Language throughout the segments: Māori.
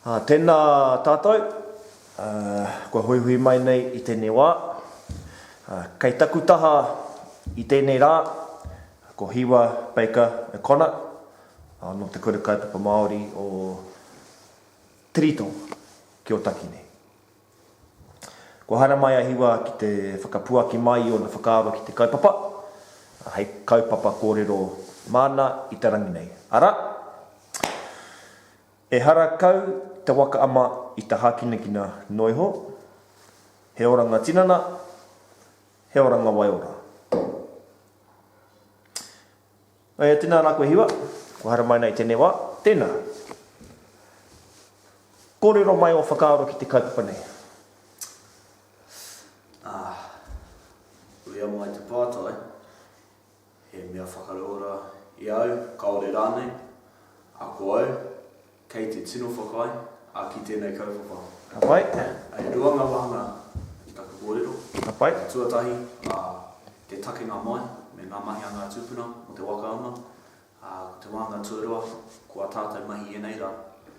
Ā, tēnā tātou, ā, kua huihui mai nei i tēnei wā. Ā, kei taku taha i tēnei rā, ko Hiwa Baker O'Connor, ā, nō Te Kura Kaupapa Māori o Tirito ki Ōtaki nei. Kua haramai a Hiwa ki te whakapuaki mai i ōna whakaaro ki te kaupapa, hei kaupapa kōrero māna i te rangi nei, arā, Ehara kau te waka ama i te hākinakina noa iho, he oranga tinana, he oranga waiora. Aea, tēnā rā koe Hiwa. Kua haere mai ana i tēnei wā. Tēnā. Kōrero mai ō whakaaro ki te kaupapa nei. Ah, uia mai te pātai. He mea whakarauora i au, kāore rānei, ako au. Kei te tino whakaae a ki tēnei kaupapa. Ka pai. E rua ngā wāhanga i taku kōrero. Ka pai. Te tuatahi, ā, te takenga mai me ngā mahi a ngā tūpuna mō te waka ana. Ā, ko te wāhanga tuarua, ko ā tātou mahi i ēnei rā.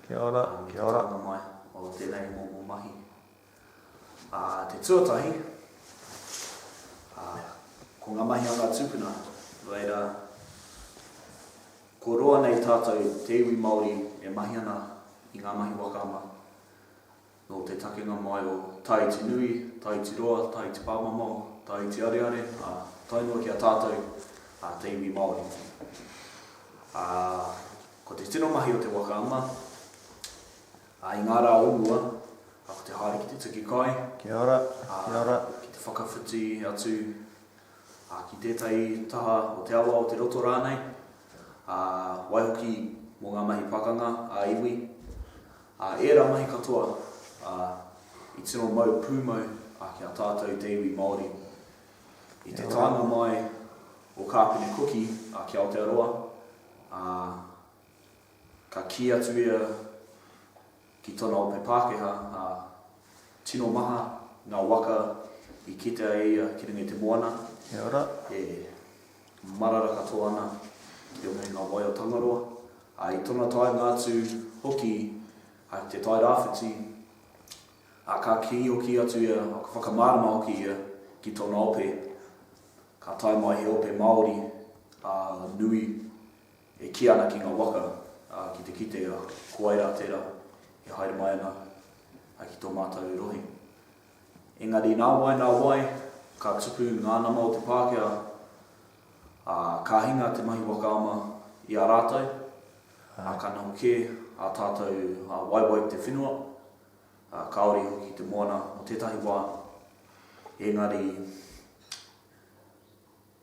Kia ora, kia ora. Ā, me te takenga mai o tēnei momo mahi. Ā te tuatahi, ā, ko ngā mahi a ngā tūpuna, nō reira, ko roa nei tātou te iwi Māori e mahi ana i ngā mahi wakaama, nō te takenga mai o Tāiti Nui, Tāiti Roa, Tāiti Pāmamao, Tāiti Areare, ā, tae noa ki a tātou, ā, te iwi Māori. Ā, ko te tino mahi o te wakaama, Ā, i ngā rā o mua, ā, ko te haere ki te tuki kai, Kia ora, kia ora. ā, ki te whakawhiti atu, ā, ki tētahi taha o te awa, o te roto rānei, ā, waihoki mō ngā mahi pakanga ā-iwi, ā, ērā mahi katoa, ā, i tino mau pūmau, ā, ki a tātou te iwi Māori. I te taenga mai o Kāpene Kuki, ā, ki Aotearoa, ā, Ka kī atu ia ki tōna ope Pākehā, ā, tino maha ngā waka i kitea e ia ki runga i te moana, e marara katoa ana i roto i ngā wai o Tangaroa, ā, i tōna taenga atu hoki i te Tai Rāwhiti, ā, ka kī hoki atu ia, ka whakamārama hoki ia ki tōna ope, ka tae mai he ope Māori, ā, nui. E kī ana ki ngā waka, ā, ki te kite a Koaira tērā e haere mai ana ki tō mātou rohe. Engari nā wai, nā wai, ka tupu ngā nama o te Pākehā, ā, ka hinga te mahi waka ama i a rātou, ā, ka noho kē ā tātou waewae ki te whenua, ā, kāore hoki ki te moana mō tētahi wā. Engari.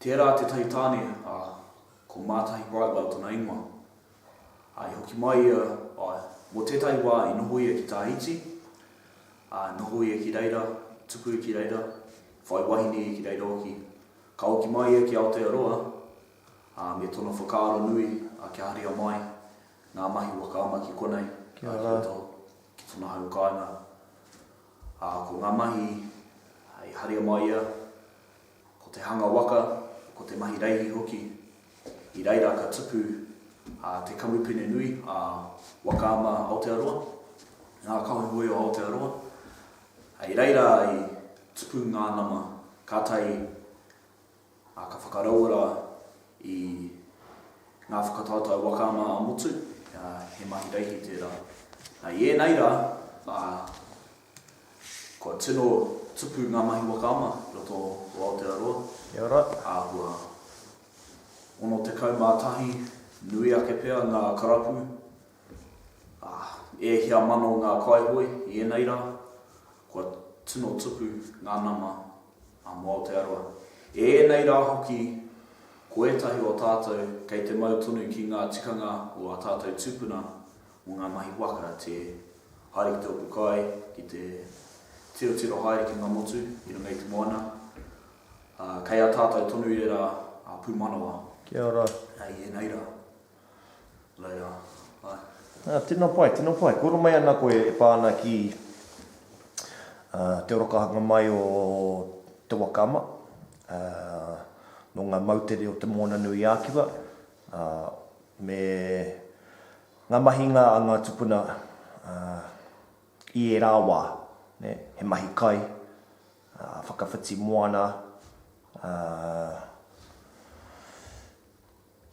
Tērā tētahi tāne, ā, ko Mātahi Brightwell tana ingoa. Ā, i hoki mai ia, āe, mō tētahi wā i noho ia ki Tāhiti, ā, noho ia ki reira, tuku ki reira, whai wahine ia ki reira hoki. Ka hoki mai ia ki Aotearoa, ā, me tōna whakaaro nui, ā, kia haria mai ngā mahi waka ama ki konei, ā, ki roto ki tōna hau kāinga. Ā, ko ngā mahi, hei haria mai ia, Ko te hanga waka, ko te mahi reihi hoki, i reira ka tupu a te kamupene nui a Waka Ama Aotearoa, ngā Kahoehoe o Aotearoa. I reira i tupu ngā nama, kātahi a ka whakarauora i ngā whakataotao Waka Ama ā-Motu, he mahi reihi tērā. I ēnei rā, Kua tino tupu ngā mahi waka ama i roto o Aotearoa. Kia ora. Āhua 61, nui ake pea ngā karapu, ā, e hia mano ngā kaihoe i ēnei rā, kua tino tupu ngā nama a mō Aotearoa. I ēnei rā hoki, ko ētahi o tātou kei te mau tonu ki ngā tikanga o ā tātou tūpuna Mō ngā mahi waka, tē haere ki te opu kai, ki te tirotiro haere ki ngā motu i runga i te moana, ā, kei a tātou tonu ērā pūmanawa. Kia ora. Hei ēnei rā. Hei rā. Āe. Ā, tēnā pai, tēnā pai. Kua ora mai ana koe e pā ana ki te orokahanga mai o Te Wakaama, nō ngā moutere o Te Moananui-a-Kiwa, ā, me ngā mahinga a ngā tupuna i ērā wā, he mahi kai, whakawhiti moana, ā.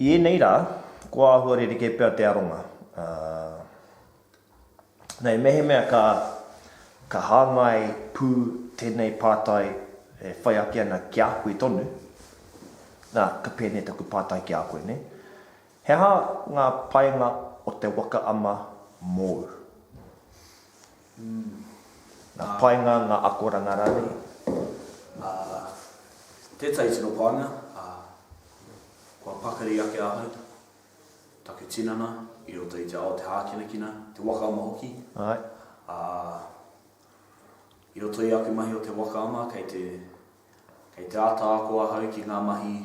I ēnei rā, kua āhua rerekē pea te aronga, ā. Nei, mehemea ka, ka hāngai pū tēnei pātai e whai ake ana ki a koe tonu, nā, ka pēnei taku pātai ki a koe, nē? He aha ngā painga o te waka ama mōu? Ngā painga, ngā akoranga rānei? Ā, tētahi tino painga, ā, kua pakari ake ahau. Take tinana i roto i te ao o te hākinakina, te waka ama hoki. Āe. Ā, i roto i aku mahi o te waka ama, kei te, kei te āta ako ahau ki ngā mahi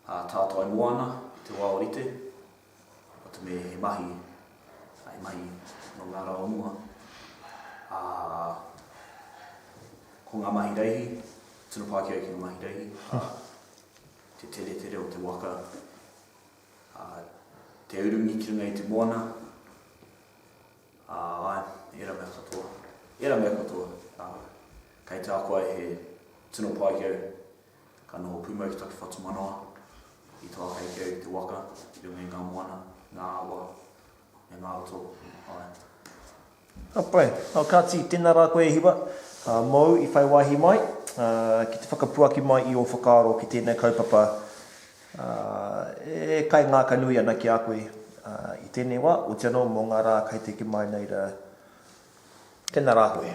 ā tātai moana i te wā o rite, wata me he mahi, he mahi nō ngā rā o mua. Ā, ko ngā mahi reihi, tino pākia ki ngā mahi reihi, ā, te teretere o te waka, ā, te urungi ki runga i te moana, ā, āe, ērā mea katoa, ērā mea katoa, ā, kei te ako ai he tino pai ki au, ka noho pūmau ki taku whatumanawa, i tō āhei ki au i te waka, i runga i ngā moana, ngā awa, me ngā roto whāiti. Ka pai. Kāti, tēnā rā koe e Hiwa, mōu i whai wāhi mai, ki te whakapuaki mai i ō whakaaro ki tēnei kaupapa e kaingākanui ana ki a koe i tēnei wā, otianō mō ngā rā kai te ki mai nei rā. Tēnā rā koe.